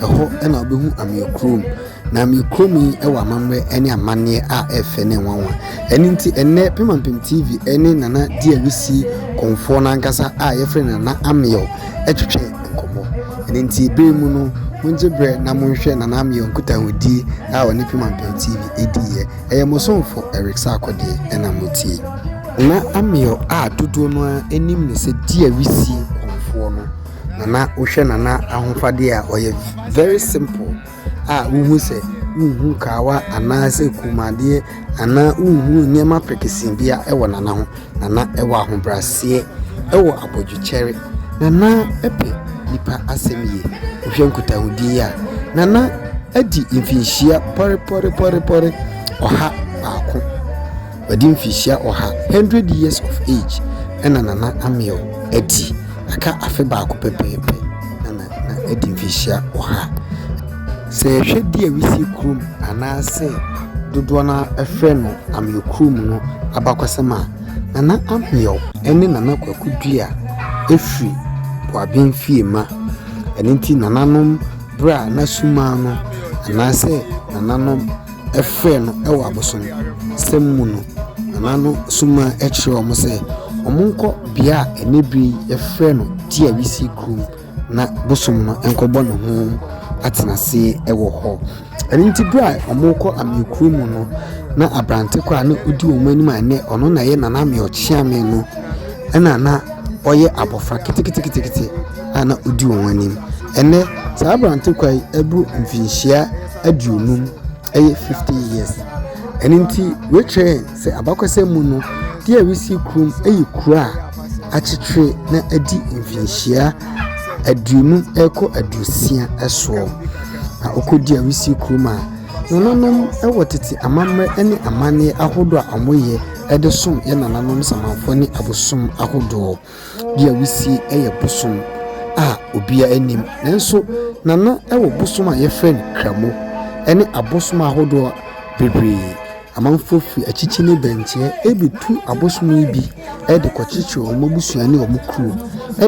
Ɛhɔ na wobɛhu Amee kurom. Na Amee kurom yi wɔ amammerɛ ne amanneɛ a ɛyɛ fɛ ne nwanwa. Ɛno nti ɛnnɛ Pemampem TV ne Nana Di Awusi kɔmfoɔ no ankasa a yɛfrɛ no Nana Ameyaw twetwɛ nkɔmmɔ. Ɛno nti berɛ mu no mongye berɛ na monhwɛ Nana Ameyaw nkutahodie a ɔne Pemampem TV diiɛ. Ɛyɛ mo somfo Eric Sarkodie na motie. Nana Ameyaw a dodoɔ no ara nim no sɛ Di Awusi kɔmfoɔ no. Nana wohwɛ Nana ahofadi a ɔyɛ very simple a wohu sɛ wohu kaawa anaasɛ kɔnmuadeɛ anaa wohu nneɛma prekesee bia ɛwɔ Nana ho. Nana ɛwɔ ahobraseɛ, ɛwɔ abodwokyɛre. Nana ɛpɛ nipa asɛm yie. Wohwɛ nkutahodie yi a, Nana adi mfinhyia pɔrepɔrepɔrepɔre ɔha baako. Wadi mfirihyia ɔha, hundred years of age, na Nana Ameew adi. Aka afe baako pɛpɛɛpɛ na Nana adi mfirihyia ɔha. Sɛ yɛhwɛ di a wisie kurom anaasɛ dodoɔ no ara frɛ no Ameew kurom no abakɔsɛm a, Nana Ameew ne Nana Kwaku Duah firi Boaben Fiema. Ɛno nti nananom berɛ a na sumaa no anaasɛ nananom frɛɛ no wɔ abosonsɛm mu no, Nana no somaa kyerɛɛ wɔn sɛ wɔnkɔ bea a ɛnnɛ bere yi wɔfrɛ no Tiawisi kurom na bosom no nkɔbɔ ne ho atenase wɔ hɔ. Ɛno nti bere a wɔrekɔ Amee kurom mu no, na aberante koro a na odi wɔn anim a ɛnnɛ ɔno na ɛyɛ Nana Amee Ɔkyeame no na na ɔyɛ abɔfra keteketekete a na odi wɔn anim. Ɛnnɛ, saa aberante koro yi abu mfinhyia. aduonum, ɛyɛ fifty years. Ɛno nti woekyerɛ hɛn sɛ abakɔsɛm mu no, DRC kurow no yɛ kurow a akyekyere na adi mfinhyia aduonum rekɔ aduosia soɔ. Na wokɔ DRC kurom a, nananom wɔ tete amammerɛ ne amanneɛ ahodoɔ a wɔyɛ de som yɛn nananom Samanfoɔ ne abosom ahodoɔ. Bi a wusie yɛ bosom a obiara nnim, nanso na na ɛwɔ bosom a wɔfrɛ no Kramo ne abosom ahodoɔ bebree. Amanfoɔ firi akyikyi ne bɛnkyɛ bɛtu abosom yi bi de kɔkyekyere wɔn abusua ne wɔn kuro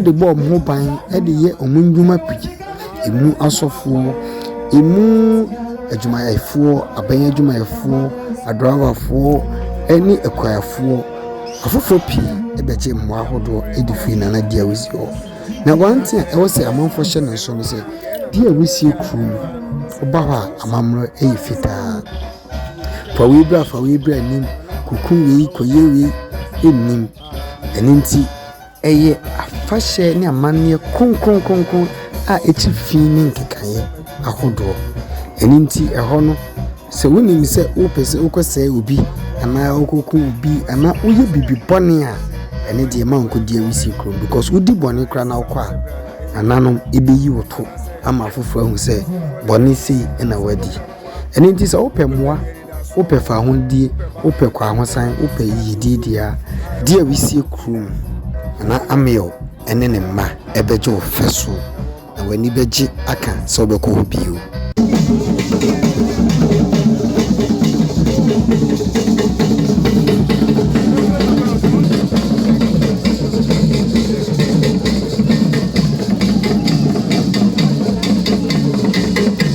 de bɔ wɔn ho ban de yɛ wɔn nnwuma pii. Ɛmu asɔfoɔ, ɛmu adwumayɛfoɔ, aban adwumayɛfoɔ, adrawafoɔ ne akuafoɔ. Afoforɔ pii bɛgye mmoa ahodoɔ adi firi Nana Diawusi hɔ. Na one thing a ɛwɔ sɛ amanfoɔ hyɛ no nso ne sɛ, Diawusie kuro mu, woba hɔ a amammerɛ yɛ fitaa. Fa wei bra fa wei bra nnim, kɔkum wei, kɔyɛ wei nnim. Ɛno nti Ɛyɛ afahyɛ ne amanneɛ kronkron kronkron a ɛkyi fi ne nkekaeɛ ahodoɔ. Ɛno nti ɛhɔ no, sɛ wonim sɛ wopɛ sɛ wokɔsɛe obi anaa wokɔku obi anaa woyɛ biribi bɔne a, ɛne deɛ ma nkɔdi awisie kurom because wodi bɔne koraa na wokɔ a, nananom ɛbɛyi wo to ama afoforɔ ahu sɛ bɔne sei na wadi. Ɛno nti sɛ wopɛ mmoa, wopɛ fahodie, wopɛ kwahosan, wopɛ yiyedie deɛ a, di a wisie kuro mu na na Amiel ne ne mma bɛgye wo fɛ so na w'ani bɛgye aka sɛ wobɛkɔ hɔ bio.